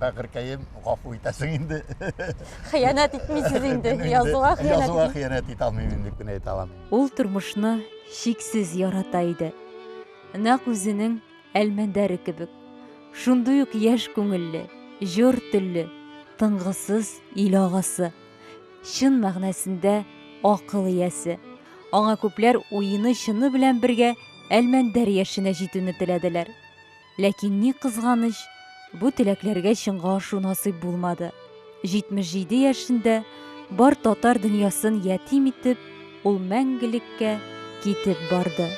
Бәгыркәем, гафу итәсең инде. Хыянәт итмисез инде, язуга хыянәт. Язуга хыянәт итә алмыйм инде, дип әйтә алам. Ул тормышны чиксез ярата иде. Нәкъ үзенең Әлмәндәре кебек. Шундый ук яшь күңелле, җор телле, тынгысыз ил агасы. Чын мәгънәсендә акыл иясе. Аңа күпләр уены-чыны белән бергә Әлмәндәр яшенә җитүне теләделәр. Ләкин ни кызганыч, бу теләкләргә чынга ашу насыйп булмады. 77 яшендә бар татар дөньясын ятим итеп, ул мәңгелеккә китеп барды.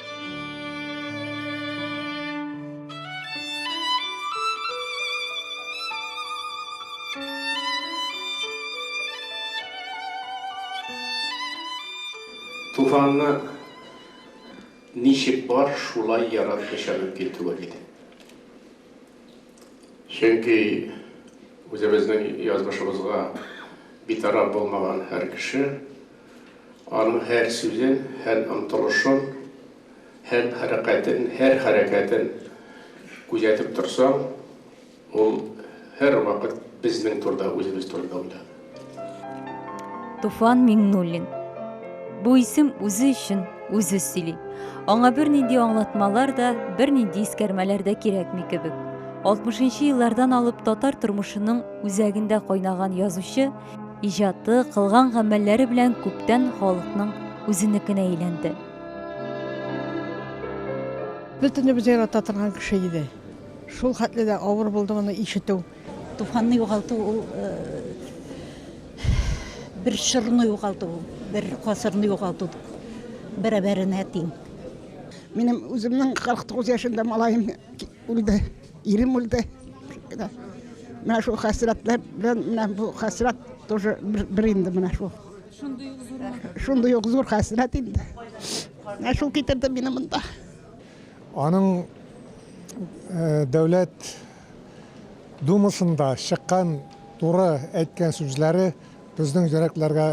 Туфанны Ничек бар, шулай ярар кеше мөмкин түгел иде. Чөнки үзебезнең язмышыбызга битараф булмаган һәр кеше, аның һәр сүзен, һәр омтылышын, һәр хәрәкәтен, һәр хәрәкәтен күзәтеп торсаң, Ул һәрвакыт безнең турыда, үзебез турында уйлады. Туфан Миңнуллин. Бу исем үзе өчен үзе сөйли. Аңа бернинди аңлатмалар да, бернинди искәрмәләр дә кирәкми кебек. 60 нчы еллардан алып татар тормышының үзәгендә кайнаган язучы иҗаты, кылган гамәлләре белән күптән халыкның үзенекенә әйләнде. Бөтенебез ярата торган кеше иде. Шул хәтле дә авыр булды моны ишетү. Туфанны югалту ул бер чорны югалту, бер гасырны югалту бәрабәренә тиң. Минем үземнең 49 яшендә малаем үлде, ирем үлде. Менә шул хәсрәтләр белән менә бу хәсрәт тоже бер инде менә шул. Шундый ук зур. Шундый ук зур хәсрәт инде. Менә шул китерде мине монда. Аның Дәүләт Думасында чыккан туры әйткән сүзләре безнең йөрәкләргә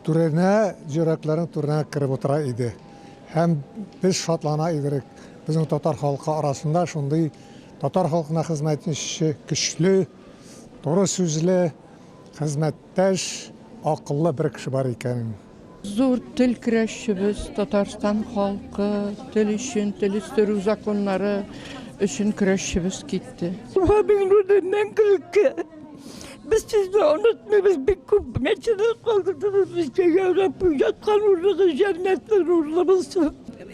түренә, йөрәкләрнең түренә кереп утыра иде. Һәм без шатлана идерек, безнең татар халкы арасында шундый татар халкына хезмәт итүче көчле, туры сүзле, хезмәт. Тәж акыллы бер кеше бар икән. Зур тел көрәшчебез, Татарстан халкы, тел өчен, тел үстерү законнары өчен көрәшчебез китте. Вабин Руденнән көлке. Без сезне онытмыйбыз, бик күп мәчеләр калдырдыгыз безгә, я Рабби, яткан урыныгыз җәннәтле нурлы булсын.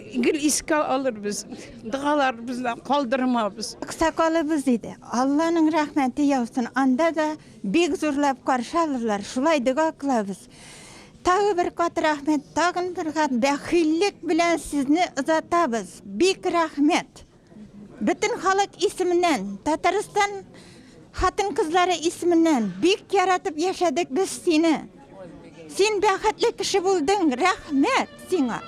Гел искә алырбыз, догаларыбыздан калдырмабыз. Аксакалыбыз иде. Алланың рәхмәте яусын, анда да. Бик зурлап каршы алырлар, шулай дога кылабыз. Тагы бер кат рәхмәт, тагын бер кат бәхиллек белән сезне озатабыз. Бик рәхмәт. Бөтен халык исеменнән, Татарстан хатын-кызлары исеменнән бик яратып яшәдек без сине. Син бәхетле кеше булдың, рәхмәт сиңа.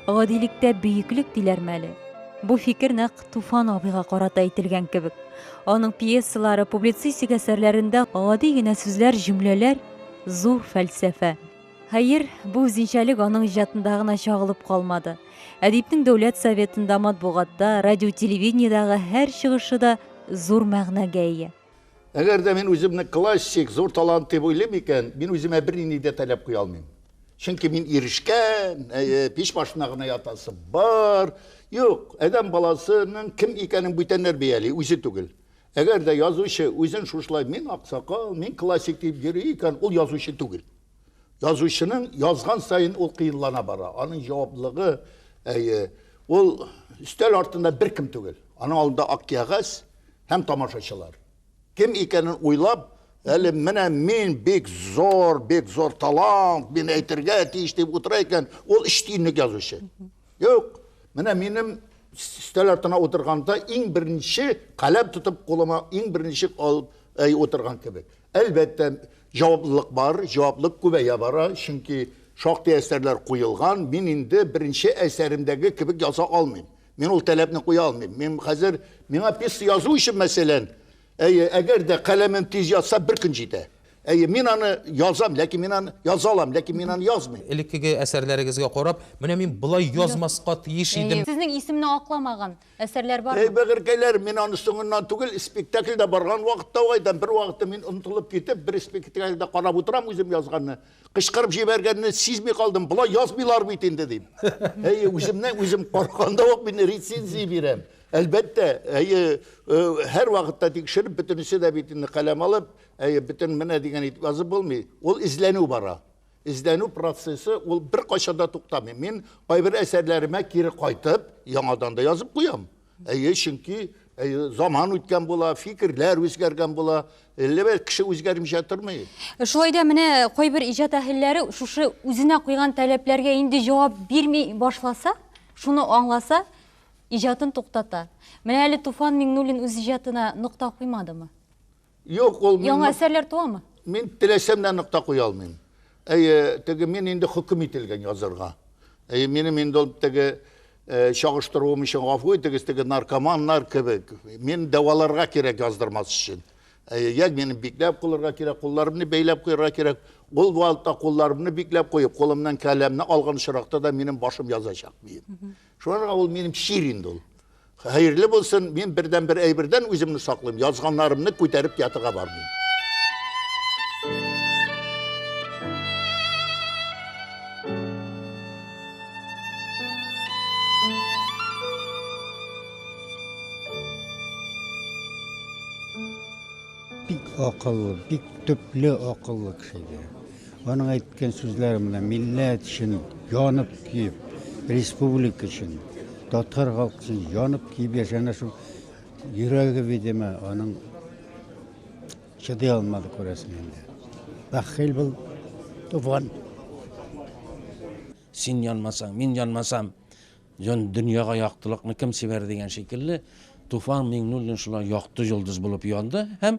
Гадилектә бөеклек диләрме әле? Бу фикер нәкъ Туфан абыйга карата әйтелгән кебек. Аның пьесалары, публицистик әсәрләрендә гади генә сүзләр, җөмләләр Зур фәлсәфә. Хәер, бу үзенчәлек аның иҗатында гына чагылып калмады. Әдипнең Дәүләт Советында, матбугатта, радио-телевидениедагы һәр чыгышы да зур мәгънәгә ия. Әгәр дә мин үземне классик, зур талант дип уйлыйм икән, мин үземә бернинди дә таләп куя алмыйм. Чөнки мин ирешкән, әйе, пич башына гына ятасы бар. Юк, адәм баласының кем икәнен бүтәннәр бәяли, үзе түгел. Әгәр дә язучы үзен шушылай мин аксакал, мин классик дип йөри икән, ул язучы түгел. Язучының язган саен ул кыенлана бара. Аның җаваплыгы, әйе, ул өстәл артында беркем түгел. Аның алдында ак кәгазь һәм тамашачылар. Кем икәнен уйлап, әле менә мин бик зур, бик зур талант, мин әйтергә тиеш дип утыра икән, ул өч тиенлек язучы. Юк, менә минем өстәл артына утырганда иң беренче каләм тотып кулыма иң беренче алып әй утырган кебек. Әлбәттә, җаваплылык бар, җаваплылык күбәя бара, чөнки шактый әсәрләр куелган. Мин инде беренче әсәремдәге кебек яза алмыйм. Мин ул таләпне куя алмыйм. Мин хәзер миңа пьеса язу өчен, мәсәлән, әйе, әгәр дә каләмем тиз ятса, бер көн җитә. Әйе, мин аны язам, ләкин мин аны яза алам, ләкин мин аны язмыйм. Элеккеге әсәрләрегезгә карап, менә мин болай язмаска тиеш идем. Сезнең исемне акламаган әсәрләр бармы? Әй, бәгырькәйләр, мин аны соңыннан түгел, спектакльдә барган вакытта ук әйтәм, бервакытта мин онытылып китеп, бер спектакльдә карап утырам үзем язганны, кычкырып җибәргәнне сизми калдым, болай язмыйлар бит инде, дим. Әйе, үземнән үзем караганда ук мин рецензия бирәм. Әлбәттә, әйе, һәрвакытта тикшереп, бөтенесе дә бит инде каләм алып, Әйе, бөтен менә дигән итеп язып булмый. Ул эзләнү бара. Эзләнү процессы ул бер кайчан да туктамый. Мин кайбер әсәрләремә кире кайтып, яңадан да язып куям. Әйе, чөнки Э, заман үткән була, фикерләр үзгәргән була, әллә бер кеше үзгәрмичә тормый. Э, шулай да менә кайбер иҗат әһелләре шушы үзенә куйган таләпләргә инде җавап бирми башласа, шуны аңласа, иҗатын туктата. Менә әле Туфан Миңнуллин үз иҗатына нокта куймадымы? Юк, ул мин... Яңа әсәрләр туамы? Мин теләсәм дә нокта куя алмыйм. Әйе, теге мин инде хөкем ителгән язырга. Әйе, минем инде ул теге э, чагыштыруым өчен гафу итегез, теге наркоманнар кебек. Мин дәваларга кирәк яздырмас өчен. Әйе, як мине бикләп кулырга кирәк, кулларымны бәйләп куярга кирәк. Ул вакытта кулларымны бикләп куеп, кулымнан каләмне алган очракта да минем башым язачак бием. Шуларга ул минем чир инде ул. Хәерле булсын, мин бердән бер әйбердән үземне саклыйм, язганнарымны күтәреп ятырга бармыйм. Бик акыллы, бик төпле акыллы кеше. Аның әйткән сүзләре менә милләт өчен янып киеп, республика өчен, татар халкы өчен янып киеп яшәгән шул йөрәге, видимо, аның чыдый алмады күрәсең инде. Бәхил был туфан. Син янмасаң, мин янмасам, Җан дөньяга яктылыкны кем сибәр дигән шикелле, Туфан Миңнуллин шулай якты йолдыз булып янды һәм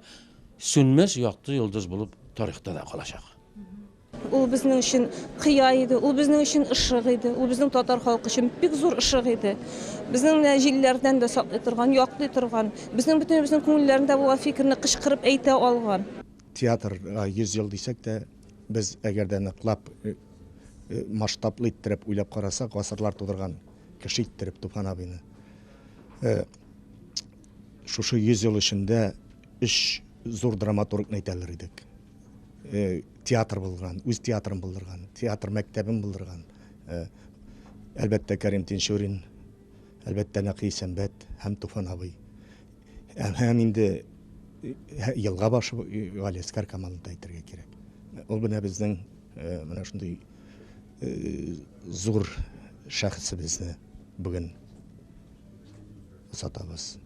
сүнмәс якты йолдыз булып тарихта да калачак. Ул безнең өчен кыя иде, ул безнең өчен ышык иде, ул безнең татар халкы өчен бик зур ышык иде. Безнең менә җилләрдән дә саклый торган, яклый торган, безнең бөтенебезнең күңелләрендә булган фикерне кычкырып әйтә алган. Театрга 100 ел дисәк тә, Без әгәр дә ныклап масштаблы иттереп уйлап карасак, гасырлар тудырган кеше иттереп Туфан абыйны шушы 100 ел эчендә өч зур драматургны әйтә алыр идек. Э, театр булдырган, үз театрын булдырган, театр мәктәбен булдырган. Э, әлбәттә, Кәрим Тинчурин, әлбәттә, Нәкый Исәнбәт һәм Туфан абый. Һәм инде елга башы Галиәскар командасы әйтергә кирәк. Ул менә безнең менә шундый зур шәхесебезне бүген сатабыз.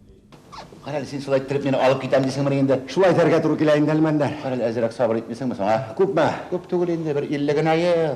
Кара әле син шулай иттереп мине алып китәм дисеңмени инде? Шулай дәргә туры килә инде әлмәндәр. Кара әле әзрәк сабыр итмисеңме соң, а? Күпме? Күп түгел инде, бер илле генә ел.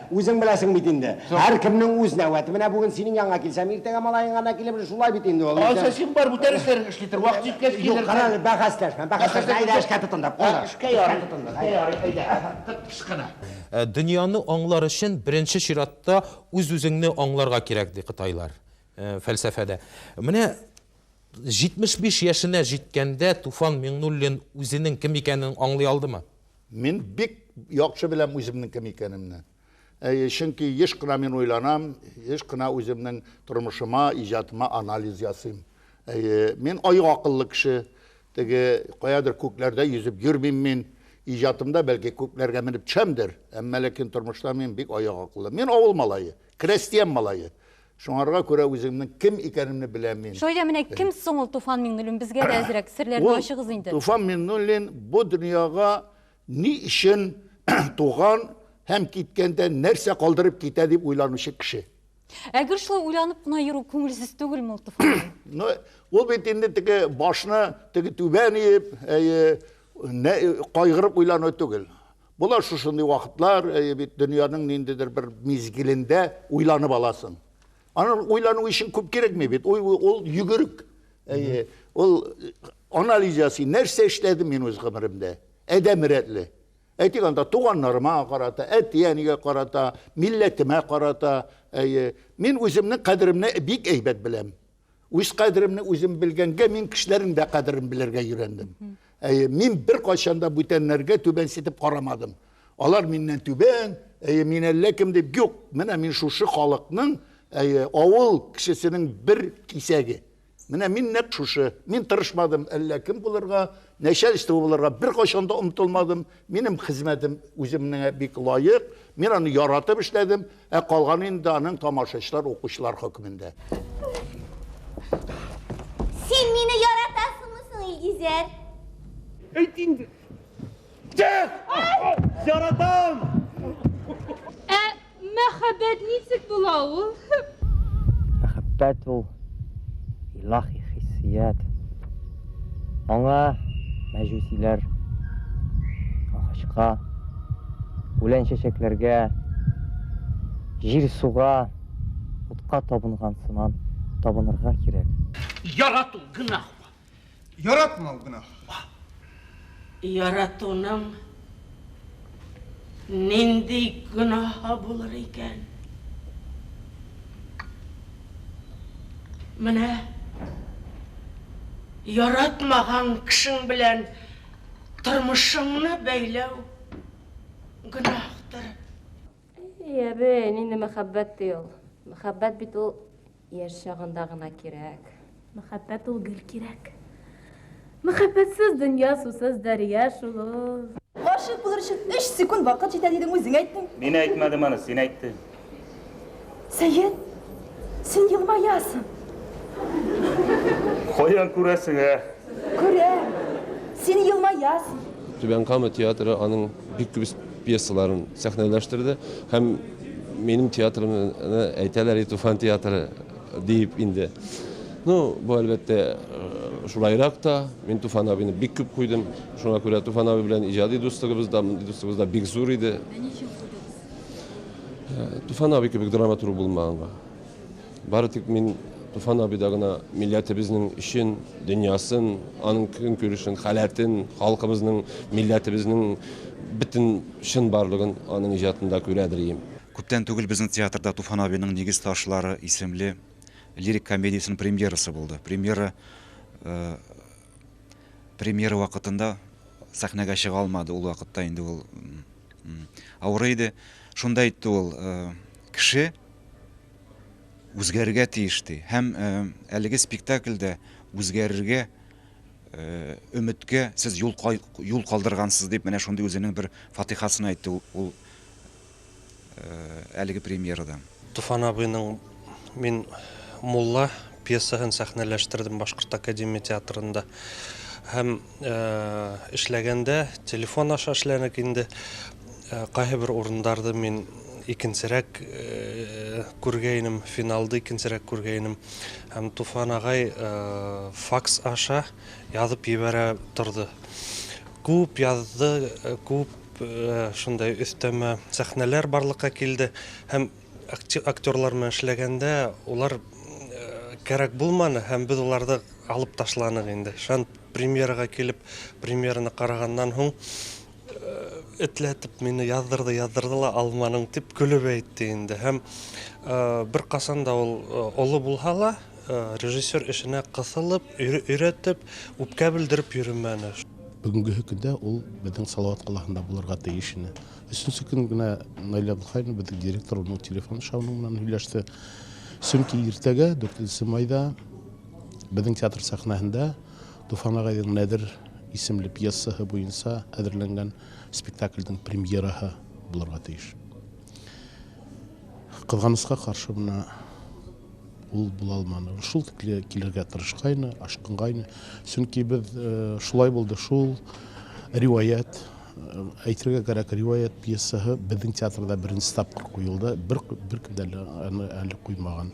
Үзең беләсең бит инде. Һәркемнең үз нәүәте. Менә бүген синең янга килсәм, иртәгә малаеңа да килеп, шулай бит инде ул. Алса син бар, бүтән эшләрен эшли тор, вакыт җиткәч килерсең. Юк, кара, бәхәсләшмә, бәхәсләшмә. Әйдә, эшкә тотындык. Эшкә ярый, эшкә ярый, әйдә. Тып-тыш кына. Дөньяны аңлар өчен беренче чиратта үз-үзеңне аңларга кирәк, ди кытайлар фәлсәфәдә. Менә 75 яшенә җиткәндә Туфан Миңнуллин үзенең кем икәнен аңлый алдымы? Мин бик яхшы беләм үземнең кем икәнемне. Әйе, чөнки еш кына мин уйланам, еш кына үземнең тормышыма, иҗатыма анализ ясыйм. Әйе, мин аю акыллы кеше. Теге каядыр күкләрдә йөзеп йөрмим мин. Иҗатымда, бәлки, күкләргә менеп төшәмдер, әмма ләкин тормышта мин бик аю акыллы. Мин авыл малае, крәстиян малае. Шуңарга күрә үземнең кем икәнемне беләм мин. Шулай да менә кем соң ул Туфан Миңнуллин? Безгә дә әзрәк серләрне ачыгыз инде. Ул Туфан Миңнуллин бу дөньяга ни өчен туган һәм киткәндә нәрсә калдырып китә дип уйланучы кеше. Ә гел шулай уйланып кына йөрү күңелсез түгелме ул Туфанның? Ну, ул бит инде теге башны теге түбән иеп, әйе, кайгырып уйлану түгел. Була шушындый вакытлар, әйе бит, дөньяның ниндидер бер мизгелендә уйланып аласың. Аны уйлану өчен күп кирәкми бит. Ул ул йөгерек. Әйе, ул анализ ясый. Нәрсә эшләдем мин үз гомеремдә? Әдәм рәтле. Әйтик анда туганнарыма карата, әти-әнигә карата, милләтемә карата, әйе, мин үземнең кадеремне бик әйбәт беләм. Үз кадеремне үзем белгәнгә мин кешеләрнең дә кадерен белергә өйрәндем. Әйе, мин бер кайчан да бүтәннәргә түбәнсетеп карамадым. Алар миннән түбән, әйе, мин әллә кем дип юк. Менә мин шушы халыкның, әйе, авыл кешесенең бер кисәге. Менә мин нәкъ шушы. Мин тырышмадым әллә кем булырга, начальство булырга бер кайчан да омтылмадым. Минем хезмәтем үземнеңә бик лаек, мин аны яратып эшләдем, ә калганы инде аның тамашачылар, укучылар хөкемендә. Син мине яратасыңмы соң, Илгизәр? Әйт инде. Яратам! Ә Мәхәббәт ничек була ул? Мәхәббәт ул, илаһи хиссият. Аңа мәҗүсиләр агачка, үлән-чәчәкләргә, җир-суга, утка табынган сыман табынырга кирәк. Ярату гөнаһмы? Яратмау гөнаһ. Яратуның нинди гөнаһы булыр икән? Менә яратмаган кешең белән тормышыңны бәйләү гөнаһтыр. Әй, әбе, нинди мәхәббәт ди ул? Мәхәббәт бит ул Яшь чагында гына кирәк. Мәхәббәт ул гел кирәк. Мәхәббәтсез дөнья сусыз дәрья шул ул. Гашыйк булыр өчен өч секунд вакыт җитә дидең, үзең әйттең. Мин әйтмәдем аны, син әйттең. Сәет, син елмаясың. Каян күрәсең, ә? Күрәм. Син елмаясың. Түбән Кама театры аның Бик күп пьесаларын сәхнәләштерде һәм минем театрымны әйтәләр и Туфан театры диеп инде. Ну, бу әлбәттә э, шулайрак та, мин Туфан абыйны бик күп куйдым. Шуңа күрә Туфан абый белән иҗади дуслыгыбыз да, мондый дуслыгыбыз да бик зур иде. Ә ничек куйдыгыз? Э, Туфан абый кебек драматург булмаганга. Бары тик мин Туфан абыйда гына милләтебезнең эчен, дөньясын, аның көнкүрешен, халәтен, халкыбызның, милләтебезнең бөтен чынбарлыгын аның иҗатында күрә белим. Күптән түгел безнең театрда Туфан абыйның Нигез ташлары исемле лирик комедиясенең премьерасы булды. Премьера премьера вакытында сәхнәгә чыга алмады, ул вакытта инде ул авырый иде. Шунда әйтте ул, Кеше, үзгәрергә тиеш ди. Һәм әлеге спектакльдә үзгәрергә өметкә сез юл юл калдыргансыз дип менә шундый үзенең бер фатихасын әйтте ул әлеге премьерада. Туфан абыйның мин мулла пьесаһын сәхнәләштердем Башкорт академия театрында. Һәм эшләгәндә телефон аша эшләдек инде. Кайбер урындарды мин икенчерәк күргәйнем, финалды икенчерәк күргәйнем. Һәм Туфан агай факс аша язып җибәрә торды. Күп язды, күп шундай өстәмә сәхнәләр барлыкка килде һәм актерлар белән эшләгәндә улар кирәк булманы һәм без уларны алып ташладык инде. Шәп Премьерага килеп, премьераны караганнан һуң, этләтеп мине яздырды, яздырды ла алманың дип көлеп әйтте инде. Һәм бер касан да ул олы булһа ла, режиссер эшенә кысылып, өйрәтеп, үпкә белдереп йөрмәне. Бүгенге көндә ул безнең Салават каласында булырга тиеш иде. Өченче көн генә Наилә Абдулхаевна безнең директор, уның телефон шауның белән һөйләште. Чөнки иртәгә, дүртенче майда, Безнең театр сәхнәһендә Туфан агайның Нәдер исемле пьесаһы буенча әзерләнгән спектакльнең премьераһы булырга тиеш. Кызганычка каршы мына ул була алманы. Шул тикле килергә тырышкайны, ашкынгайны. Чөнки без э, шулай булды, шул риваять, э, әйтергә кирәк, риваять пьесаһы безнең театрда беренче тапкыр куелды. Бер, бер кем дә әле, әле куймаган.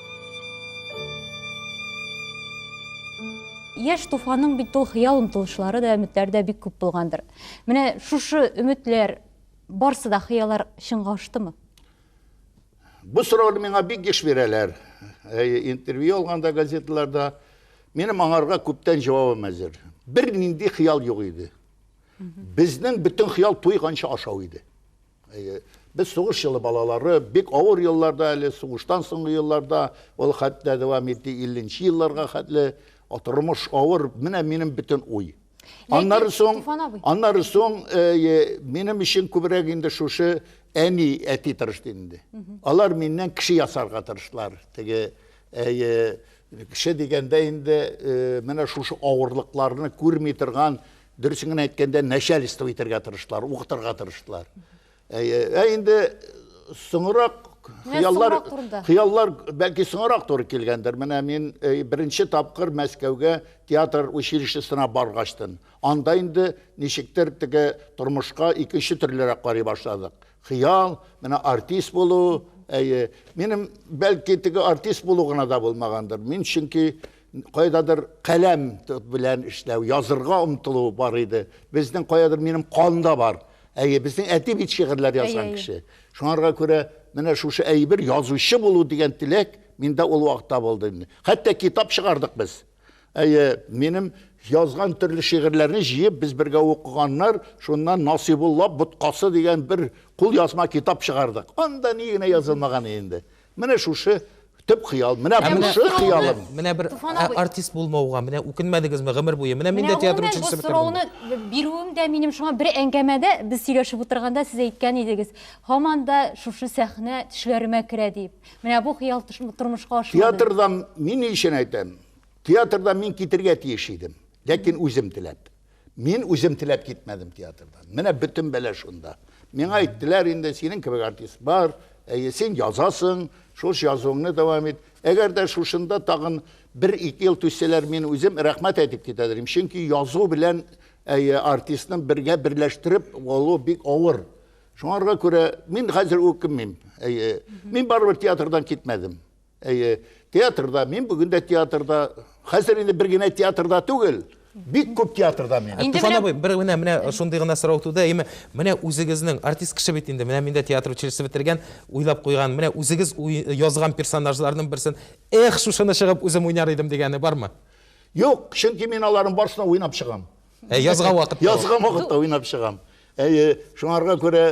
Яш туфаның бит ул хыял омтылышлары да өметләрдә бик күп булгандыр. Менә шушы өметләр барсы да хыяллар чынга аштымы? Бу сорауны миңа бик еш бирәләр. Интервью алганда газеталарда минем аңарга күптән җавабым әзер. Бер нинди хыял юк иде. Безнең бөтен хыял туйганчы ашау иде. Әйе. Без сугыш елы балалары, бик авыр елларда әле, сугыштан соңгы елларда, ул хәтта дәвам итте 50 нче елларга хәтле, тормыш авыр, менә минем бөтен уй. Аннары соң, аннары соң минем өчен күбрәк инде шушы әни, әти тырышты инде. Алар миннән кеше ясарга тырыштылар. Теге кеше дигәндә инде менә шушы авырлыкларны күрми торган Дөресен генә әйткәндә, начальство итәргә тырыштылар, укытырга тырыштылар. Ә, ә инде соңрак хыяллар хыяллар бәлки соңрак туры килгәндер менә мин э, беренче тапкыр мәскәүгә театр училищесына баргачтын анда инде ничектер теге тормышка икенче төрлерәк карый башладык хыял менә артист булу әйе минем бәлки теге артист булу гына да булмагандыр мин чөнки Кайдадыр каләм белән эшләү, язырга омтылу бар иде. Безнең кайдадыр минем канда бар. Әйе, безнең әти бит шигырьләр язган кеше. Шуңарга күрә менә шушы әйбер язучы булу дигән теләк миндә ул вакытта булды инде. Хәтта китап чыгардык без. Әйе, минем язган төрле шигырьләрне җыеп без бергә укыганнар, шуннан Насыйбулла боткасы дигән бер кул язма китап чыгардык. Анда ни генә язылмаган инде. Менә шушы төп хыял. Менә Ә менә- бусы хыялым. Менә бер Туфан ә- абый. артист булмауга, менә үкенмәдегезме гомер буе? Менә мин Менә дә театр гомумән бу училищесы бетердем. сорауны б- бирүем дә минем шуңа бер әңгәмәдә без сөйләшеп утырганда сез әйткән идегез. Һаман да шушы сәхнә төшләремә керә дип. Менә бу хыял тыш- тормышка ашмады. Театрдан мин ни өчен әйтәм? Театрдан мин китергә тиеш идем, ләкин үзем теләп. Мин үзем теләп китмәдем театрдан. Менә бөтен бәлә шунда. Миңа әйттеләр инде, синең кебек артист бар, әйе, син язасың, шуш язуыңны дәвам ит. Әгәр дә шушында тагын бер-ике ел түзсәләр, мин үзем рәхмәт әйтеп китәдер идем. Чөнки язу белән әйе, артистны бергә берләштереп алу бик авыр. Шуңарга күрә мин хәзер үкенмим. Әйе, мин барыбер театрдан китмәдем. Әйе, театрда, мин бүген дә театрда, хәзер инде бер генә театрда түгел, бик күп театрда мин. Инде Туфан беләм. абый, бер менә менә шундый гына сорау туды, әйеме? Менә үзегезнең артист кеше бит инде, менә мин дә театр училище бетергән, уйлап куйган, менә үзегез уй- язган персонажларның берсен, эх, шушыны чыгып үзем уйнар идем дигәне бармы? Юк, чөнки мин аларның барсын да уйнап чыгам. Ә язган вакытта? Язган вакытта уйнап чыгам. Әйе, шуңарга күрә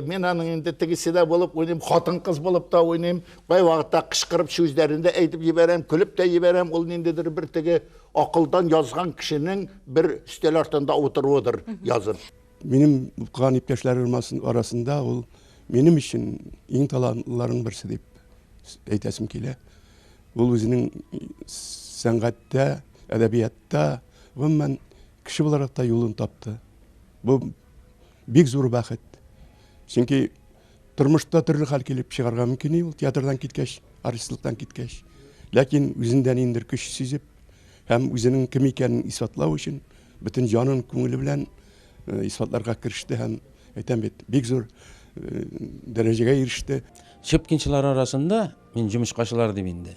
мин аның инде тегесе дә булып уйныйм, хатын-кыз булып та уйныйм. Кай вакытта кычкырып сүзләрен дә әйтеп җибәрәм, көлеп тә җибәрәм. Ул ниндидер бер теге акылдан язган кешенең бер өстәл артында утыруыдыр язып. Минем укыган иптәшләрем арасында ул минем өчен иң талантлыларның берсе дип әйтәсем килә. Ул үзенең сәнгатьтә, әдәбиятта, гомумән, Кеше буларак та юлын тапты. Бу бик зур бәхет. Чөнки тормышта төрле хәл килеп чыгарга мөмкин ул театрдан киткәч, артистлыктан киткәч. Ләкин үзендә ниндидер көч сизеп һәм үзенең кем икәнен исбатлау өчен бөтен җанын, күңеле белән э, исбатларга кереште һәм әйтәм бит, бик зур э, дәрәҗәгә иреште. Щепкинчылар арасында, мин җумычкачылар дим инде,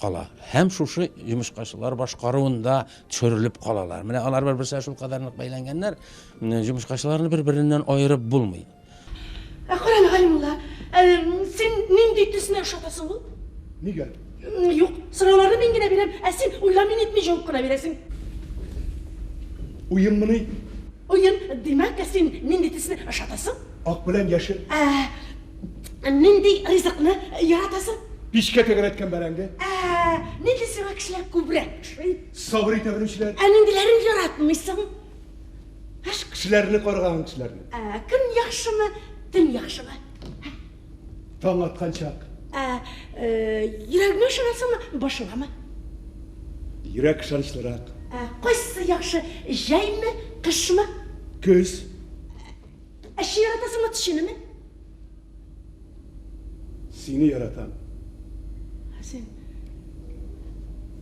кала. Һәм шушы йомычкачылар башкаруында төшерелеп калалар. Менә алар бер-берсенә шул кадәр нык бәйләнгәннәр, йомычкачыларны бер-береннән аерып булмый. Ә карале, Галимулла, син нинди төсне ошатасың ул? Нигә? Юк, сорауларны мин генә бирәм, ә син уйламый-нитми җавап кына бирәсең. Уенмыни? Уен, димәк, син нинди төсне ошатасың? Ак белән яшел. Ә. Ә нинди ризыкны яратасың? Пичкә тәгәрәткән бәрәңге. Ә нинди сиңа кешеләр күбрәк ошый? Сабыр итә белүчеләр. Ә ниндиләрен яратмыйсың? Һш. Кешеләрне каргаган кешеләрне. Ә көн яхшымы, төн яхшымы? Һә. Таң аткан чак. Ә йөрәгеңә ышанасыңмы, башыңамы? Йөрәк ышанычлырак. Ә кайсы яхшы, җәйме, кышмы? Көз. Ә чи яратасыңмы тешенеме? Сине яратам. Ә син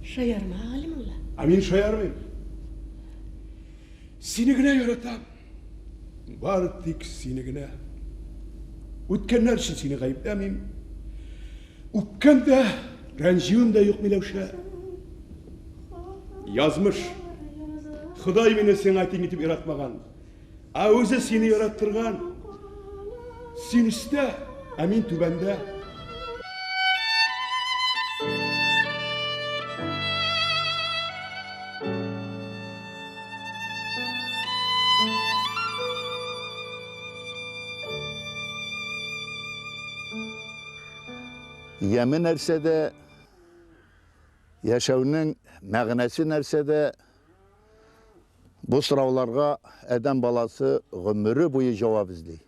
шаярма, Галимулла. Ә мин шаярмыйм. Сине генә яратам. Бар тик сине генә. Үткәннәр өчен сине гаепләмим. Үпкәм дә, рәнҗүем дә юк, Миләүшә. Язмыш. Ходай мине сиңа тиң итеп яратмаган. Ә үзе сине яраттырган. Син өстә, ә мин түбәндә. Яме нәрсәдә, яшәүнең мәгънәсе нәрсәдә? Бу сорауларга адәм баласы гомере буе җавап эзли.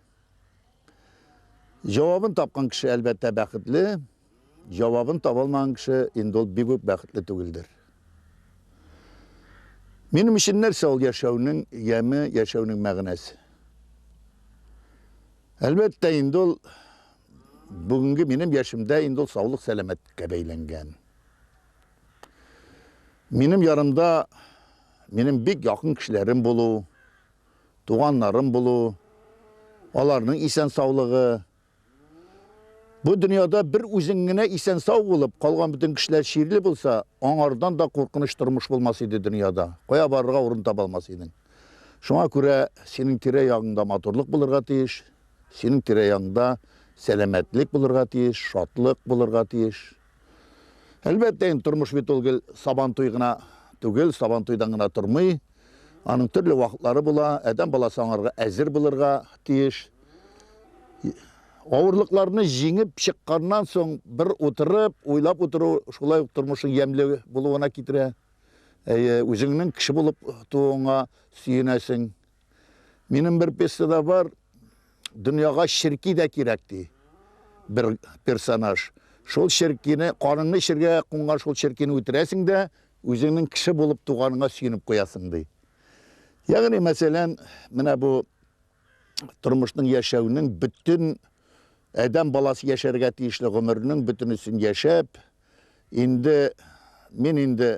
Җавабын тапкан кеше, әлбәттә, бәхетле, җавабын таба алмаган кеше инде ул бик үк бәхетле түгелдер. Минем өчен нәрсә ул яшәүнең яме, яшәүнең мәгънәсе? Әлбәттә, инде ул бүгенге минем яшемдә инде ул саулык-сәламәтлеккә бәйләнгән. Минем ярымда минем бик якын кешеләрем булу, туганнарым булу, аларның исән саулыгы. Бу дөньяда бер үзең генә исән сау булып, калган бөтен кешеләр чирле булса, аңардан да куркыныч тормыш булмас иде дөньяда. Кая барырга урын таба алмас идең. Шуңа күрә синең тирә ягыңда матурлык булырга тиеш, синең тирә ягыңда сәламәтлек булырга тиеш, шатлык булырга тиеш. Әлбәттә, инде тормыш бит ул гел сабантуй гына түгел, сабантуйдан гына тормый. Аның төрле вакытлары була. Адәм баласы аңарга әзер булырга тиеш. Авырлыкларны җиңеп чыкканнан соң бер утырып, уйлап утыру шулай ук тормышның ямьле булуына китерә. Әйе, үзеңнең кеше булып тууыңа сөенәсең. Минем бер пьесада бар, дөньяга ширки дә кирәк ди. Бер персонаж. Шул ширкине, каныңны эчергә кунган шул ширкине үтерәсең дә, үзеңнең кеше булып туганыңа сөенеп куясың ди. Ягъни, мәсәлән, менә бу тормышның яшәүнең бөтен адәм баласы яшәргә тиешле гомернең бөтенесен яшәп, Инде мин инде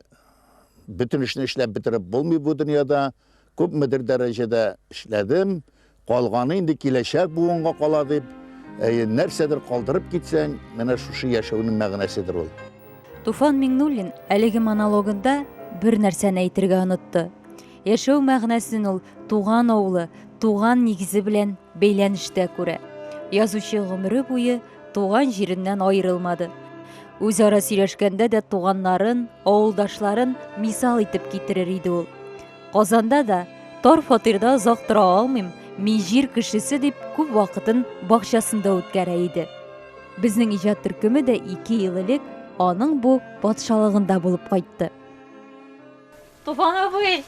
бөтен эшне эшләп бетереп булмый бу дөньяда. Күпмедер дәрәҗәдә эшләдем. Калганы инде киләчәк буынга кала дип, әйе, нәрсәдер калдырып китсәң, менә шушы яшәүнең мәгънәседер ул. Туфан Миңнуллин әлеге монологында бер нәрсәне әйтергә онытты. Яшәү мәгънәсен ул туган авылы, туган нигезе белән бәйләнештә күрә. Язучы гомере буе туган җиреннән аерылмады. Үзара сөйләшкәндә дә туганнарын, авылдашларын мисал итеп китерер иде ул. Казанда да тар фатирда озак тора алмыйм, мин җир кешесе дип күп вакытын бакчасында үткәрә иде. Безнең иҗат төркеме дә ике ел элек аның бу патшалыгында булып кайтты. Туфан абый,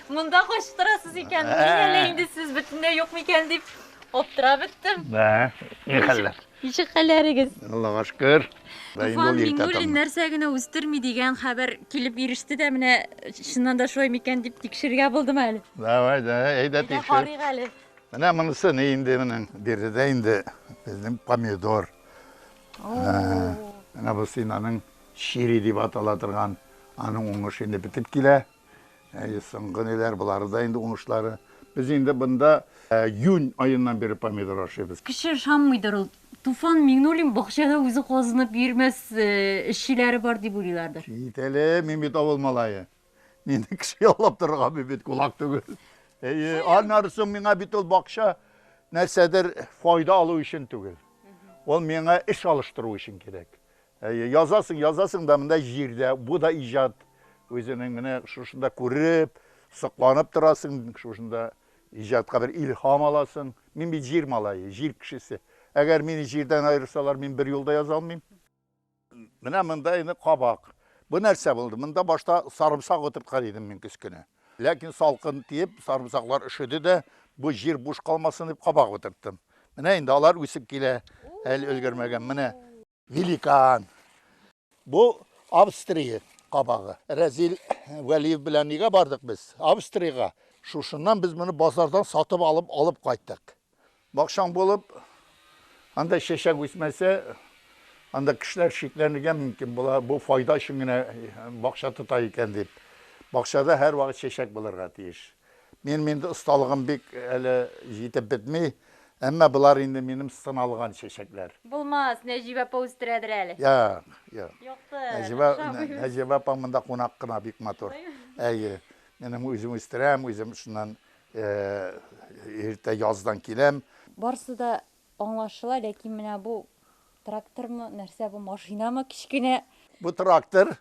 монда кайчы торасыз икән? Мин әле инде сез бөтенләй юк микән дип аптырап беттем. Бә, ни хәлләр? Ничек хәлләрегез? Аллага шөкер. Туфан Миңнуллин нәрсә генә үстерми дигән хәбәр килеп иреште дә, менә чыннан да шулай микән дип тикшергә булдым әле. Давай, да, әйдә тикшер. Әйдә карыйк әле. Менә монысы ни инде менә биредә инде безнең помидор. Менә бу синаның Чири дип атала торган аның уңышы инде бетеп килә. Әйе, соңгы ниләр, болары да инде уңышлары. Без инде бында июнь аеннан бирле помидор ашыйбыз. Кеше ышанмыйдыр ул. Туфан Миңнуллин бакчада үзе казынып йөрмәс, эшчеләре бар дип уйлыйлардыр. Кит әле, мин бит авыл малае. Мине кеше яллап торырга мин бит кулак түгел. Әйе, аннары соң миңа бит ул бакча нәрсәдер файда алу өчен түгел. Ул миңа эш алыштыру өчен кирәк. Әйе, язасың, язасың да монда җирдә, бу да иҗат. Үзенең менә шушында күреп, сокланып торасың, шушында иҗатка бер илһам аласың. Мин бит җир малае, җир кешесе. Әгәр мине җирдән аерсалар, мин бер юл да яза алмыйм. Менә монда инде кабак. Бу нәрсә булды? Монда башта сарымсак утырткан идем мин көз көне. Ләкин салкын тиеп, сарымсаклар өшеде дә, бу җир буш калмасын дип кабак утырттым. Менә инде алар үсеп килә, әле өлгермәгән. Менә. Великан. Бу Австрия кабагы. Рәзил Вәлиев белән нигә бардык без? Австриягә. Шушыннан без моны базардан сатып алып алып кайттык. Бакчаң булып, анда чәчәк үсмәсә, анда кешеләр шикләнергә мөмкин була, бу файда өчен генә бакча тота икән дип. Бакчада һәрвакыт чәчәк булырга тиеш. Минем инде осталыгым бик әле җитеп бетми, әмма болар инде минем сыналган чәчәкләр. Булмас, Нәҗибә апа үстерәдер әле. Юк, юк. Юксын, охшамыйм. Нәҗибә апа монда кунак кына, бик матур. Әйе, минем үзем үстерәм, үзем шуннан иртә яздан киләм. Барысы да аңлашыла, ләкин менә бу трактормы, нәрсә бу, машинамы, кечкенә. Бу трактор,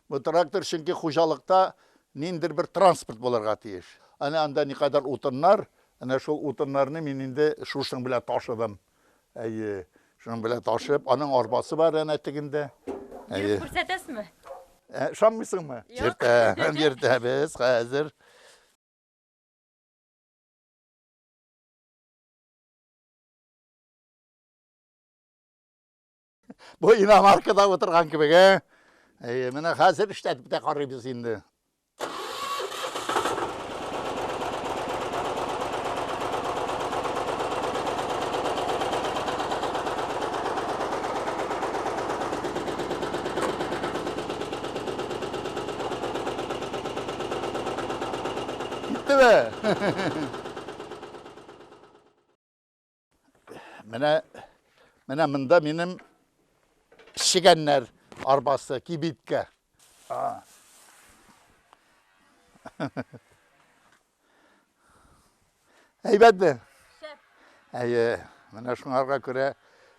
Бу трактор чөнки хуҗалыкта ниндидер бер транспорт булырга тиеш. Әнә анда никадәр утыннар, әнә шул утыннарны мин инде шушының белән ташыдым. Әйе, шуның белән ташып, аның арбасы бар әнә тегендә. Йөреп күрсәтәсме? Ә, ышанмыйсыңмы? Йөртәм, йөртәбез хәзер. Бу иномаркада утырган кебек, ә? Әйе, менә хәзер эшләтеп тә карыйбыз инде. Киттеме? Менә менә монда минем пешегәннәр арбасы, кибиткә. Әйбәтме? Шәп. Әйе, менә шуңарга күрә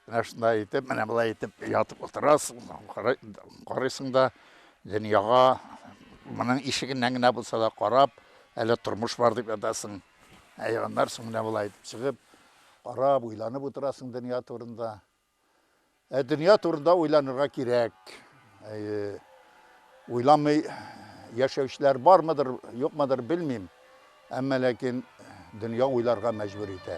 менә шунда итеп, менә былай итеп ятып утырасың, карыйсың да дөньяга моның ишегеннән генә булса да карап, әле тормыш бар дип ятасың. Ә егыннар соң менә болай итеп чыгып, карап, уйланып утырасың дөнья турында. Ә дөнья турында уйланырга кирәк. Әйе. Уйламый яшәүчеләр бармыдыр, юкмыдыр белмим. Әмма ләкин дөнья уйларга мәҗбүр итә.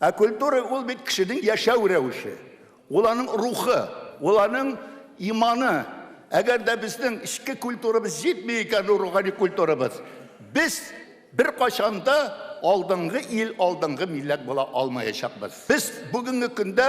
Ә культура ул бит кешенең яшәү рәвеше, ул аның рухы, ул аның иманы. Әгәр дә безнең эчке культурабыз җитми икән, рухани культурабыз, без беркайчан да алдынгы ил, алдынгы милләт була алмаячакбыз. Без бүгенге көндә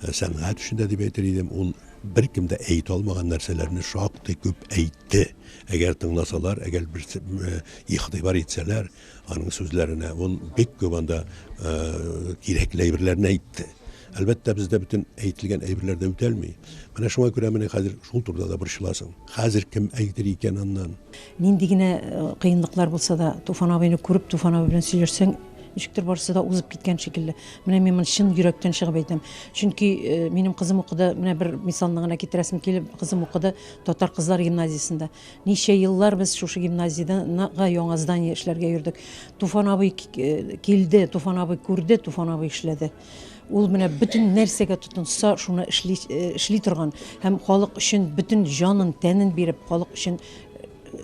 сәнгать өчен дә дип әйтер идем, ул беркем дә әйтә алмаган нәрсәләрне шактый күп әйтте. Әгәр тыңласалар, әгәр бер э, игътибар итсәләр аның сүзләренә, ул бик күп анда э, кирәкле әйберләрне әйтте. Әлбәттә, бездә бөтен әйтелгән әйберләр дә үтәлми. Менә шуңа күрә менә хәзер шул турыда да борчыласың. Хәзер кем әйтер икән аннан? Нинди генә кыенлыклар булса да, Туфан абыйны күреп, Туфан абый белән сөйләшсәң, ничектер барысы да узып киткән шикелле. Менә мин моны чын йөрәктән чыгып әйтәм. Чөнки минем кызым укыды, менә бер мисалны гына китерәсем килеп, кызым укыды татар кызлар гимназиясендә. Ничә еллар без шушы гимназиядә яңа здание эшләргә йөрдек. Туфан абый килде, Туфан абый күрде, Туфан абый эшләде. Ул менә бөтен нәрсәгә тотынса, шуны эшли, э, эшли торган һәм халык өчен бөтен җанын, тәнен биреп, халык өчен э,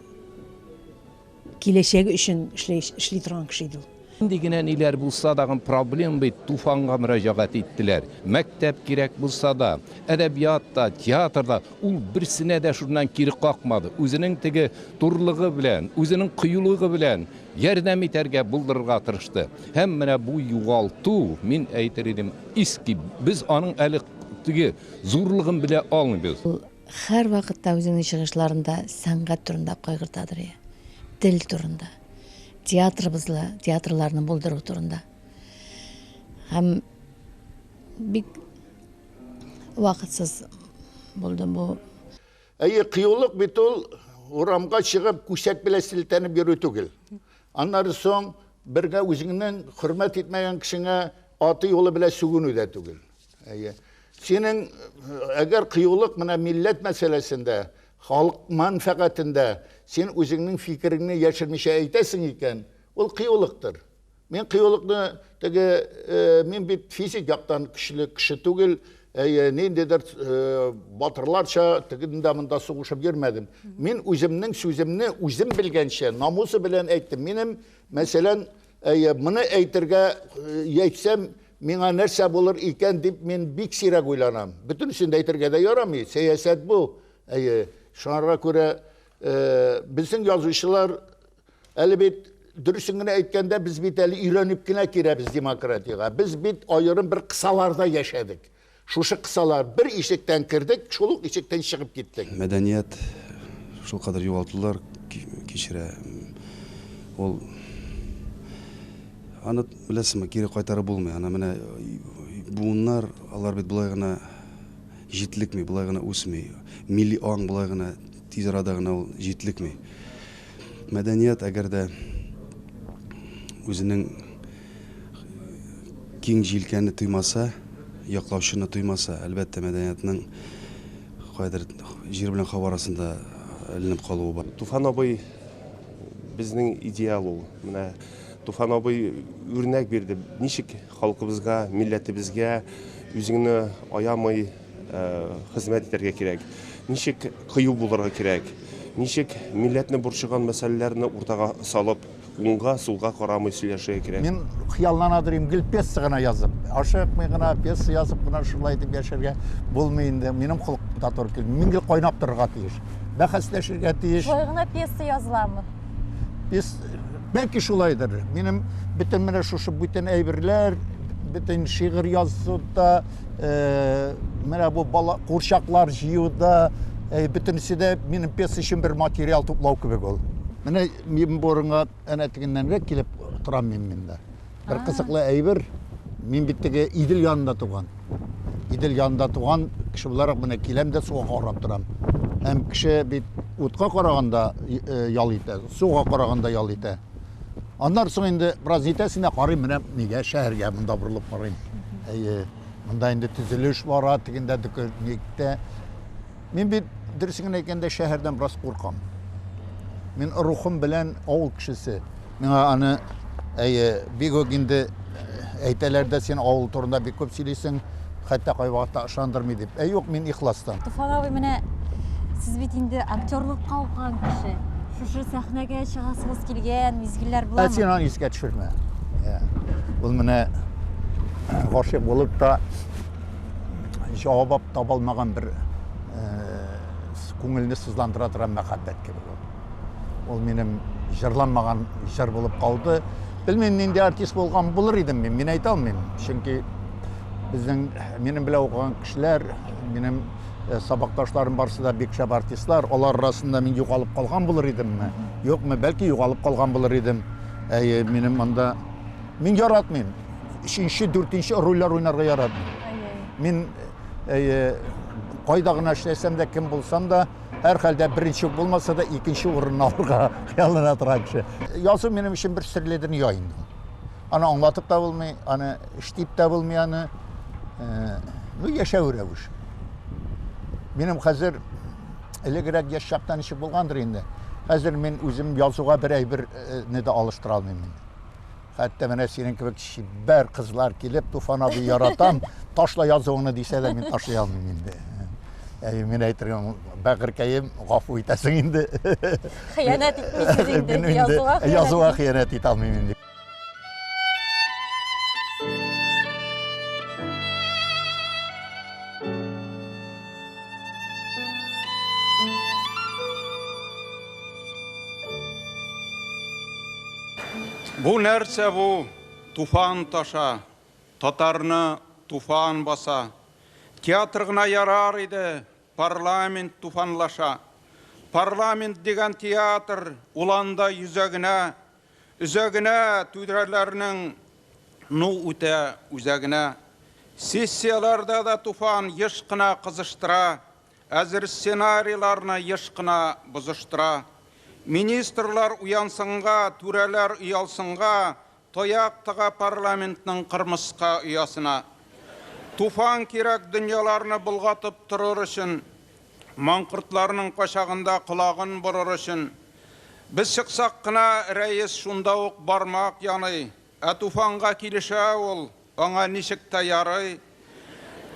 киләчәге өчен эшли, эшли торган кеше иде ул. Нинди генә ниләр булса дагы проблем бит, Туфанга мөрәҗәгать иттеләр. Мәктәп кирәк булса да, әдәбият та, театр да, ул берсенә дә шуннан кире какмады. Үзенең теге турлыгы белән, үзенең кыюлыгы белән Ярдәм итәргә, булдырырга тырышты. Һәм менә бу югалту, мин әйтер идем, иски, без аның әле теге зурлыгын белә алмыйбыз. Ул һәрвакытта үзенең чыгышларында сәнгать турында кайгыртадыр, йә тел турында, театрыбызны, театрларны булдыру турында. Һәм бик вакытсыз булды бу. Әйе, кыюлык бит ул урамга чыгып, күсәк белән селтәнеп йөрү түгел. Аннары соң бергә үзеңнең хөрмәт итмәгән кешеңә аты юлы белән сүгенү дә түгел. Әйе. Синең әгәр кыюлык менә милләт мәсьәләсендә, халык мәнфәгатендә син үзеңнең фикереңне яшермичә әйтәсең икән, ул кыюлыктыр. Мин кыюлыкны теге мин бит физик яктан көчле кеше түгел, әйе, ниндидер батырларча тегендә монда сугышып йөрмәдем. Мин үземнең сүземне үзем белгәнчә, намусы белән әйттем. Минем, мәсәлән, әйе, моны әйтергә әйтсәм, миңа нәрсә булыр икән дип мин бик сирәк уйланам. Бөтенесен дә әйтергә дә ярамый, сәясәт бу. Әйе, шуңарга күрә безнең язучылар Әле бит дөресен генә әйткәндә, без бит әле өйрәнеп кенә керәбез демократиягә. Без бит аерым бер кысаларда яшәдек. Шушы кысалар бер ишектән кердек, шул ук ишектән чыгып киттек. Мәдәният шулкадәр югалтулар кичерә. Ул аны беләсеңме, кире кайтарып булмый. Аны менә буыннар, алар бит болай гына җитлекми, болай гына үсми. Милли аң болай гына тиз арада гына ул җитлекми. Мәдәният, әгәр дә үзенең киң җилкәне тоймаса, яклаучыны тоймаса, әлбәттә, мәдәниятның кайдыр җир белән һава арасында эленеп калуы бар. Туфан абый безнең идеал ул. Менә Туфан абый үрнәк бирде, ничек Халкыбызга, милләтебезгә үзеңне аямый хезмәт итәргә кирәк. Ничек кыю булырга кирәк? Ничек милләтне борчыган мәсьәләләрне уртага салып, уңга, сулга карамый сөйләшергә кирәк? Мин хыяллана торыйм, гел пьеса гына язып, ашыкмый гына пьеса язып кына шулай итеп яшәргә булмый инде. Минем холык да туры килми. Мин гел кайнап торырга тиеш. Бәхәсләшергә тиеш. Шулай гына пьеса языламы? Пьеса Бәлки шулайдыр. Минем бөтен менә шушы бүтән әйберләр, бөтен шигырь язуда, э, менә бу бала курчаклар җыюда, э, бөтенесе дә минем пьеса өчен бер материал туплау кебек ул. Менә мин борынга әнә тегеннәнрәк килеп торам мин монда. Бер А. кызыклы әйбер, мин бит теге Идел янында туган. Идел янында туган кеше буларак менә киләм дә суга карап торам. Һәм кеше бит утка караганда э, ял итә, суга караганда ял итә. Аннан соң инде бераз итәсенә карыйм, менә нигә шәһәргә монда борылып карыйм. Әйе, монда инде төзелеш бара, тегендә докөрникте. Мин бит, дөресен генә әйткәндә, шәһәрдән бераз куркам. Мин рухым белән авыл кешесе. Миңа аны әйе, бик үк инде э, әйтәләр дә син авыл турында бик күп сөйлисең, хәтта кайвакытта ышандырмый дип. Ә юк, мин ихластан. Туфан абый, менә сез бит инде актерлыкка укыган кеше. Шушы сәхнәгә чыгасыгыз килгән мизгелләр буламы? Ә син аны искә төшермә. Ул менә гашыйк булып та җавап таба алмаган бер күңелне сызландыра торган мәхәббәт кебек ул. Ул минем җырланмаган җыр булып калды. Белмим, нинди артист булган булыр идем мин, мин әйтә алмыйм. Чөнки безнең минем белән укыган кешеләр, минем сабакташларым барысы да бик шәп артистлар. Алар арасында мин югалып калган булыр идемме? Юкмы, бәлки югалып калган булыр идем. Әйе, минем монда мин яратмыйм. өченче, дүртенче рольләр уйнарга яратмыйм. Мин э, кайда гына эшләсәм дә, кем булсам да, һәр хәлдә беренче булмаса да, икенче урынны алырга хыяллана торган кеше. Язу минем өчен бер серле дөнья инде. Аны аңлатып та булмый, аны эштип тә булмый аны. Э, ну, яшәү рәвеше. Минем хәзер элегрәк яшь чактан ничек булгандыр инде. Хәзер мин үзем язуга бер әйберне дә алыштыра алмыйм. Хәтта менә синең кебек чибәр кызлар килеп, Туфан абый яратам, ташла язуыңны дисә дә, мин ташлый алмыйм инде. Әй, мин әйтергә бәгырькәем, гафу итәсең инде. Хыянәт итмисез инде, язуга хыянәт. Язуга хыянәт итә алмыйм инде. Бу нәрсә бу? Туфан таша, татарны туфан баса. Театр гына ярар иде, парламент туфанлаша. Парламент дигән театр, ул анда йөзәгенә, өзәгенә түдрәләрнең ну үтә үзәгенә. Сессияләрдә дә туфан еш кына кызыштыра, Әзер сценарийларны еш кына бозыштыра. Министрлар уянсынга, түрәләр оялсынга, таяк тыга парламентның кырмыска оясына. Туфан кирәк дөньяларны болгатып торыр өчен, маңкортларның качагында колагын борыр өчен. Без чыксак кына, рәис шунда ук бармак яный, Ә Туфанга килешә ул, аңа ничек тә ярый.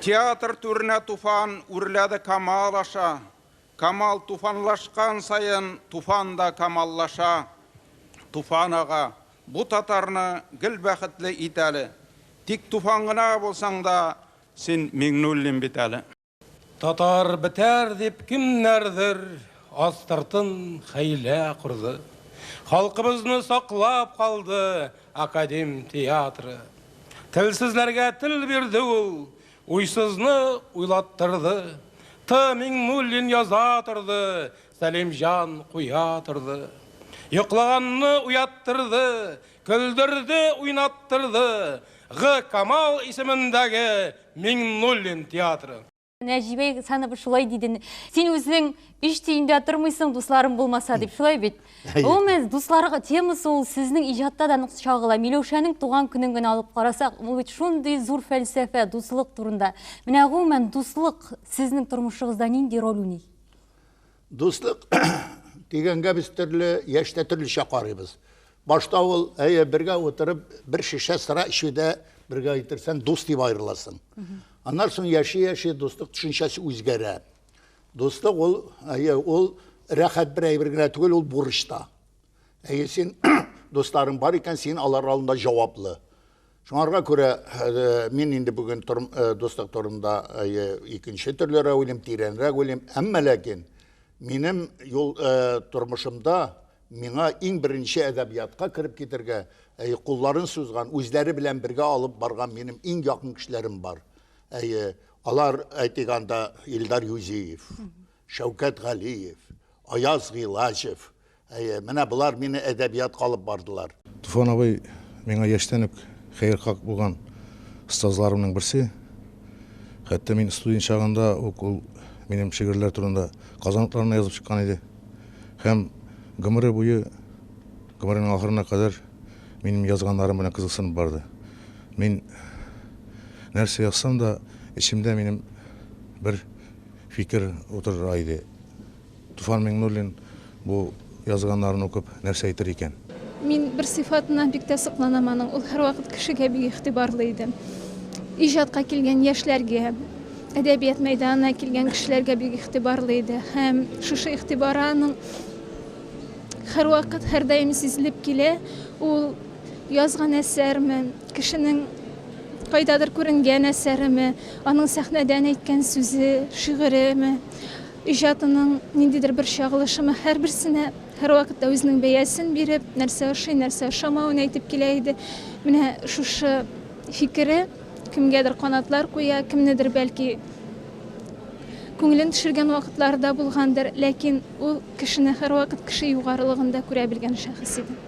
Театр түренә Туфан үрләде Камал аша. Камал туфанлашкан саен Туфан да камаллаша. Туфан ага, бу татарны гел бәхетле ит әле. Тик Туфан гына булсаң да, син Миңнуллин бит әле. Татар бетәр дип кемнәрдер астыртын хәйлә корды. Халкыбызны саклап калды Академ театры. Телсезләргә тел бирде ул, уйсызны уйлаттырды. Т. Миңнуллин яза торды, Сәлимҗан куя торды. Йоклаганны уяттырды, Көлдерде, уйнаттырды Гы Камал исемендәге Миңнуллин театры. Нәҗибә Ихсанова шулай диде. Син үзең өч тиендә тормыйсың, дусларың булмаса дип, шулай бит? Гомумән, дусларга темасы ул сезнең иҗатта да нык чагыла. Миләүшәнең туган көнен генә алып карасак, ул бит шундый зур фәлсәфә, дуслык турында. Менә гомумән дуслык сезнең тормышыгызда нинди роль уйный? Дуслык дигәнгә без төрле яшьтә төрлечә карыйбыз. Башта ул, әйе, бергә утырып, бер шешә сыра эчүдә бергә иттерсәң, дус дип аерыласың. Аннан соң яши-яши дуслык төшенчәсе үзгәрә. Дуслык ул, әйе, ул рәхәт бер әйбер генә түгел, ул бурыч та. Әйе, син дусларың бар икән, син алар алдында җаваплы. Шуңарга күрә э, мин инде бүген торм, э, дуслык турында әйе, икенче төрлерәк уйлыйм, тирәнрәк уйлыйм. Әмма ләкин минем юл э, тормышымда Миңа иң беренче әдәбиятка кереп китәргә, әйе, кулларын сузган, үзләре белән бергә алып барган минем иң якын кешеләрем бар. Әйе, алар, әйтик анда, Илдар Юзиев, Шәүкәт Галиев, Аяз Гыйлаҗев. Әйе, менә болар мине әдәбиятка алып бардылар. Туфан абый миңа яшьтән үк хәерхак булган остазларымның берсе. Хәтта мин студент чагында ук ул минем шигырьләр турында казаныкларына язып чыккан иде. Һәм гомере буе, гомеренең ахырына кадәр минем язганнарым белән кызыксынып барды. Мин нәрсә язсам да, эчемдә минем бер фикер утыра иде. Туфан Миңнуллин бу язганнарын укып нәрсә әйтер икән? Мин бер сыйфатыннан бик тә сокланам аның. Ул һәрвакыт кешегә бик игътибарлы иде. Иҗатка килгән яшьләргә, әдәбият мәйданына килгән кешеләргә бик игътибарлы иде. Һәм шушы игътибары аның һәрвакыт, һәрдаим сизелеп килә. Ул язган әсәрме, кешенең кайдадыр күренгән әсәреме, аның сәхнәдән әйткән сүзе, шигыреме, Иҗатының ниндидер бер чагылышымы һәрберсенә һәрвакытта үзенең бәясен биреп, нәрсә ошый, нәрсә ошамавын әйтеп килә иде. Менә шушы фикере кемгәдер канатлар куя, кемнедер, бәлки, күңелен төшергән вакытлары да булгандыр, ләкин ул кешене һәрвакыт кеше югарылыгында күрә белгән шәхес иде.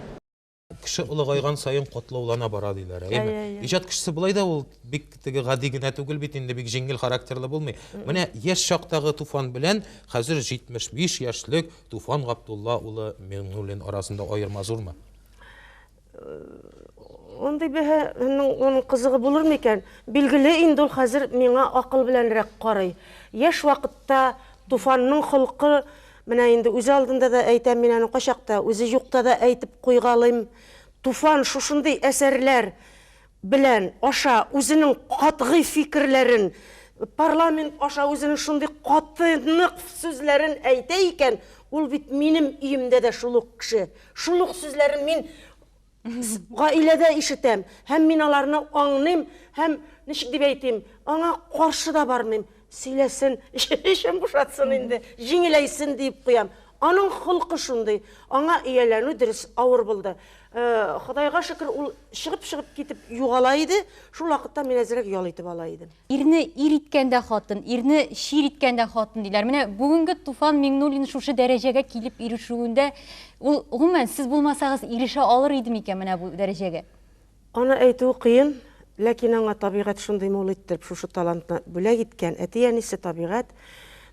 кеше олыгайган саен катлаулана бара диләр әйеме иә, иә. иҗат кешесе болай да ул бик теге гади генә түгел бит инде бик җиңел характерлы булмый менә яшь чактагы туфан белән хәзер 75 яшьлек туфан габдулла улы миңнуллин арасында аерма зурмы андый бәһанең оның кызыгы булыр микән билгеле инде ул хәзер миңа акыл беләнрәк карый яшь вакытта туфанның холкы Менә инде үзе алдында да әйтәм, мин аны кайчакта үзе юкта да әйтеп куйгалыйм. Туфан шушындый әсәрләр белән аша үзенең катгый фикерләрен, парламент аша үзенең шундый каты, нык сүзләрен әйтә икән, ул бит минем өемдә дә шул ук кеше. Шул ук сүзләрен мин Гаиләдә ишетәм, һәм мин аларны аңлыйм, һәм, ничек дип әйтим, аңа каршы да бармыйм. Сөйләсен, эчен бушатсын инде, җиңеләйсен диеп куям. Аның холкы шундый. Аңа ияләнү, дөрес, авыр булды. Ходайга шөкер, ул чыгып-чыгып китеп югала иде, шул вакытта мин әзрәк ял итеп ала идем. Ирне ир иткән дә хатын, ирне чир иткән дә хатын, диләр. Менә бүгенге Туфан Миңнуллин шушы дәрәҗәгә килеп ирешүендә, ул, гомумән, сез булмасагыз, ирешә алыр иде микән менә бу дәрәҗәгә? Аны әйтүе кыен, ләкин аңа табигать шундый мул иттереп шушы талантны бүләк иткән. Әти-әнисе, табигать,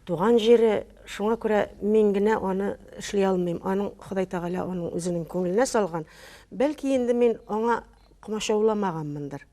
туган җире, шуңа күрә мин генә аны эшли алмыйм, аның Ходай Тәгалә аның үзенең күңеленә салган. Бәлки инде мин аңа комачауламаганмындыр.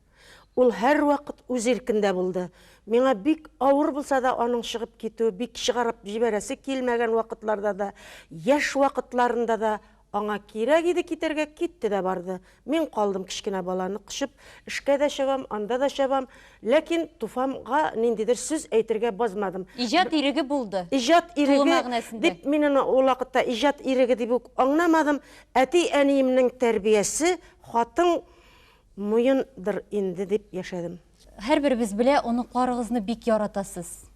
Ул һәрвакыт үз иркендә булды. Миңа бик авыр булса да аның чыгып китүе, бик чыгарып җибәрәсе килмәгән вакытларда да, яшь вакытларында да аңа кирәк иде китәргә, китте дә барды. Мин калдым кечкенә баланы кочып, эшкә дә чабам, анда да чабам, ләкин Туфанга ниндидер сүз әйтергә базмадым. Иҗат иреге булды, Иҗат иреге, тулы мәгънәсендә. Дип мин аны ул вакытта иҗат иреге дип үк аңнамадым. Әти-әниемнең тәрбиясе, хатын Муен дыр инде дип яшәдем. Һәрберебез белә, оныкларыгызны бик яратасыз.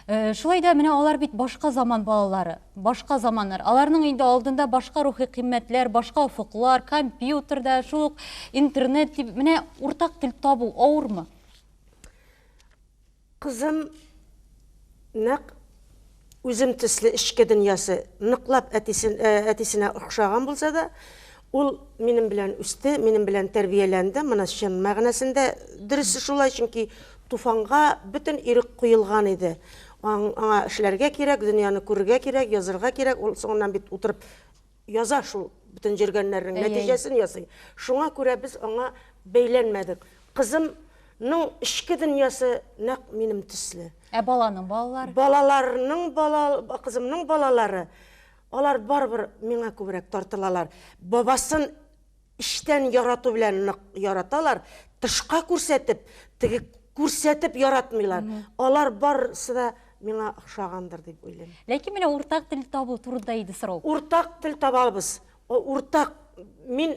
Шулай да менә алар бит башка заман балалары, башка заманнар. Аларның инде алдында башка рухи кыйммәтләр, башка офыклар, компьютерда, шул ук интернет дип, менә уртак тел табу авырмы? Кызым нәкъ үзем төсле эчке дөньясы ныклап әтисенә охшаган булса да, ул минем белән үсте, минем белән тәрбияләнде, моны чын мәгънәсендә дөресе шулай, чөнки Туфанга бөтен ирек куелган иде, аңа эшләргә кирәк, дөньяны күрергә кирәк, язырга кирәк, ул соңыннан бит утырып яза шул бөтен җиргәннәрнең нәтиҗәсен ясый. Шуңа күрә без аңа бәйләнмәдек. Кызымның эчке дөньясы нәкъ минем төсле. Ә баланың балалары? Балаларның бала, кызымның балалары, алар барыбер миңа күбрәк тартылалар. Бабасын Эчтән ярату белән нык яраталар, тышка күрсәтеп, теге күрсәтеп яратмыйлар. Алар барысы да миңа охшагандыр дип уйлыйм. Ләкин менә уртак тел табу турында иде сорау. Уртак тел табабыз. Уртак мин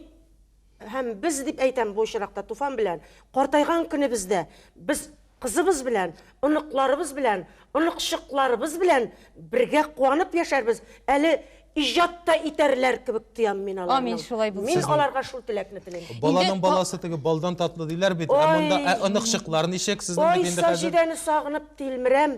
һәм без дип әйтәм бу очракта Туфан белән. Картайган көнебездә без Кызыбыз белән, оныкларыбыз белән, оныкчыкларыбыз белән бергә куанып яшәрбез, әле иҗат та итәрләр кебек тоям мин аларның. Амин, шулай булсын. Мин аларга шул теләкне телим. Баланың баласы теге балдан татлы диләр бит, ә монда, ә оныкчыклар ничек сезнең бит инде хәзер? Ой, Саҗидәне сагынып тилмерәм,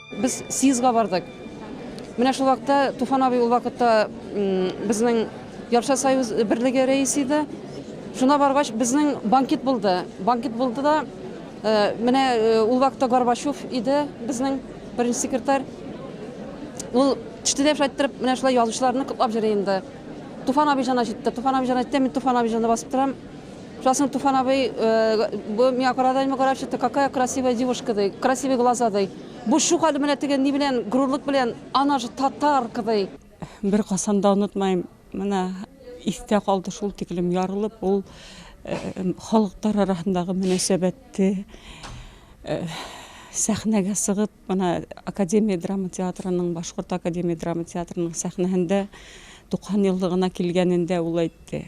Без съездга бардык. Менә шул вакытта Туфан абый ул вакытта безнең Ярша союз берлеге рәисе иде. Шуна баргач, безнең банкет булды. Банкет булды да, э, менә э, ул вакытта Горбачев иде безнең беренче секретарь. Ул тиштеләп шайттерып, менә шулай язучыларны котлап җыри инде. Туфан абыйҗана җитте. Туфан абыйҗан әйтте, мин Туфан абыйҗанны басып торам. Шунысын Туфан абый, бу миңа карадайма карап чыкты, какая красивая девушка ди, красивый глаза ди. Бу шук әле менә теге ни белән, горурлык белән, она же татарка ди. Беркайчан да онытмаем, менә истә калды шул тиклем ярылып ул халыклар арасындагы мөнәсәбәтте сәхнәгә сыгып, менә Академия драма театрының, Башкорт академия драма театрының сәхнәһендә 90 еллыгына килгәнендә ул әйтте.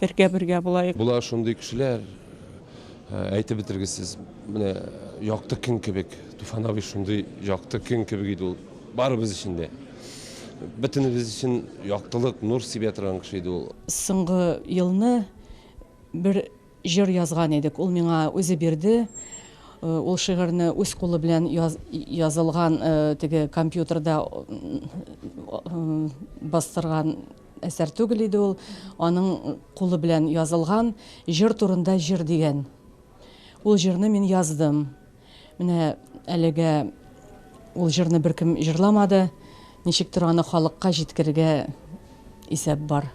Бергә бергә булаек. Була шундый кешеләр, әйтеп бетергесез. Менә якты көн кебек. Туфан абый шундый якты көн кебек иде ул. Барыбыз өчен дә. Бөтенебез өчен яктылык, нур сибә торган кеше иде ул. Соңгы елны бер җыр язган идек. Ул миңа үзе бирде. Ул шигырьне үз кулы белән язылган теге компьютерда бастырган Әсәр түгел иде ул, аның кулы белән язылган Җыр турында җыр дигән. Ул җырны мин яздым. Менә әлегә ул җырны беркем җырламады. Ничектер аны халыкка җиткерергә исәп бар.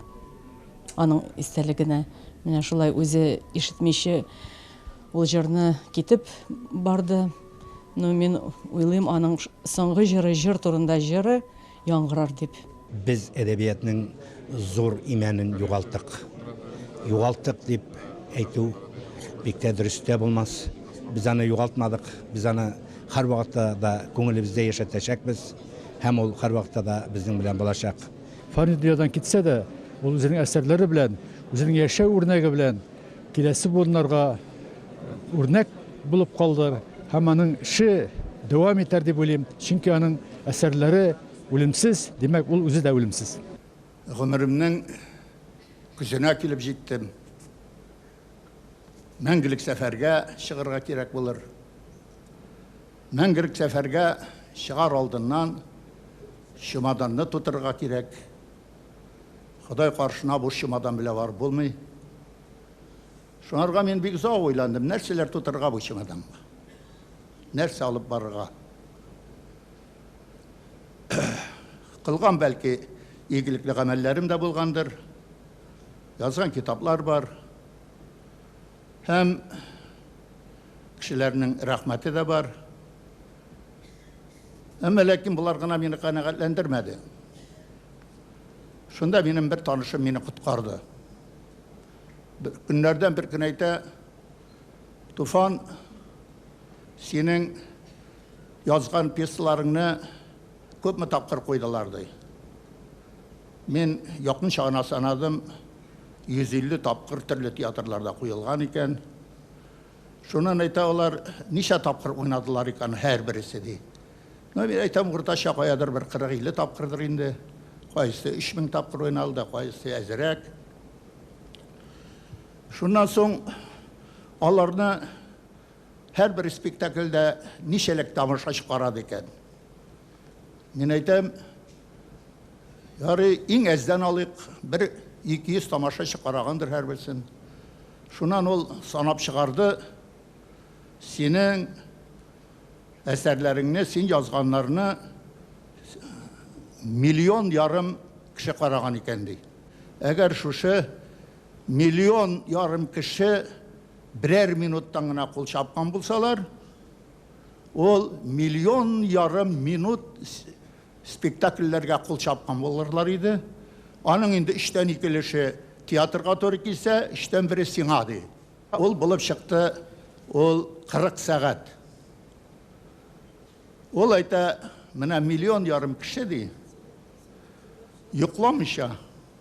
Аның истәлегенә. Менә шулай үзе ишетмичә ул җырны китеп барды. Ну, мин уйлыйм, аның соңгы җыры Җыр турында җыры. яңгырар дип. Без әдәбиятның зур имәнен югалттык. Югалттык дип әйтү бик тә дөрес тә булмас. Без аны югалтмадык, без аны һәрвакытта да күңелебездә яшәтәчәкбез һәм ул һәрвакытта да безнең белән булачак. Фани дөньядан китсә дә, ул үзенең әсәрләре белән, үзенең яшәү үрнәге белән Киләсе буыннарга үрнәк булып калдыр һәм аның эше дәвам итәр дип уйлыйм, чөнки аның әсәрләре үлемсез, димәк, ул үзе дә үлемсез. Гомеремнең көзенә килеп җиттем. Мәңгелек сәфәргә чыгарга кирәк булыр. Мәңгелек сәфәргә чыгар алдыннан чемоданны тутырырга кирәк. Ходай каршына буш чемодан белән барып булмый. Шуңарга мин бик озак уйландым, нәрсәләр тутырырга бу чемоданга? Нәрсә алып барырга? Кылган бәлки игелекле гамәлләрем дә булгандыр. Язган китаплар бар. Һәм кешеләрнең рәхмәте дә бар. Әмма ләкин болар гына мине канәгатьләндермәде. Шунда минем бер танышым мине коткарды. Көннәрдән бер көн әйтә, Туфан, синең язган пьесаларыңны Күпме тапкыр куйдылар, ди. Мин якынча гына санадым, 150 тапкыр төрле театрларда куелган икән. Шуннан әйтә алар, ничә тапкыр уйнадылар икән һәрбересе, ди. Ну, мин әйтәм, уртача каядыр бер 40-50 тапкырдыр инде. Кайсы 3000 тапкыр уйналды, кайсы әзрәк. Шуннан соң аларны Һәрбер спектакльдә ничәләк тамашачы карады икән? Мин әйтәм, ярый, иң әздән алыйк, бер 200 тамашачы карагандыр һәрберсен. Шуннан ул санап чыгарды, синең әсәрләреңне, син язганнарны миллион ярым кеше караган икән, ди. Әгәр шушы миллион ярым кеше Берәр минуттан гына кул чапкан булсалар, ул миллион ярым минут спектакльләргә кул чапкан булырлар иде. Аның инде өчтән ике өлеше театрга туры килсә, өчтән бере сиңа, ди. Ул булып чыкты ул 40 сәгать. Ул әйтә, менә миллион ярым кеше, ди, йокламыйча,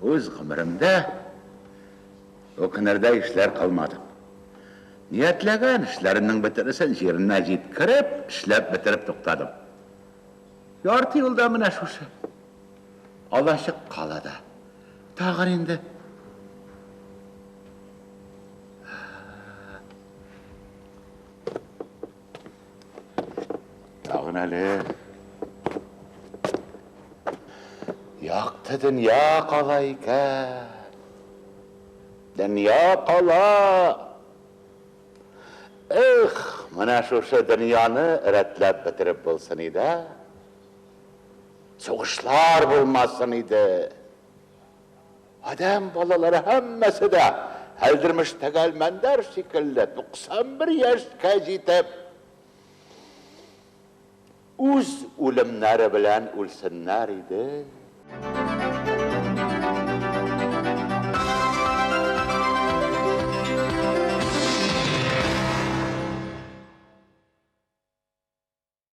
Үз гомеремдә үкенердәй эшләр кылмадым. Ниятләгән эшләремнең бөтенесен җиренә җиткереп, эшләп бетереп туктадым. Ярты юлда менә шушы Алачык калада тагын инде Тагын әле. Якты дөнья кала икән. Дөнья кала. Эх, менә шушы дөньяны рәтләп бетереп булсын иде. Сугышлар булмасын иде. Адәм балалары һәммәсе дә Әлдермеш тәгәлмәндәр шикелле 91 яшькә җитеп, үз үлемнәре белән үлсеннәр иде.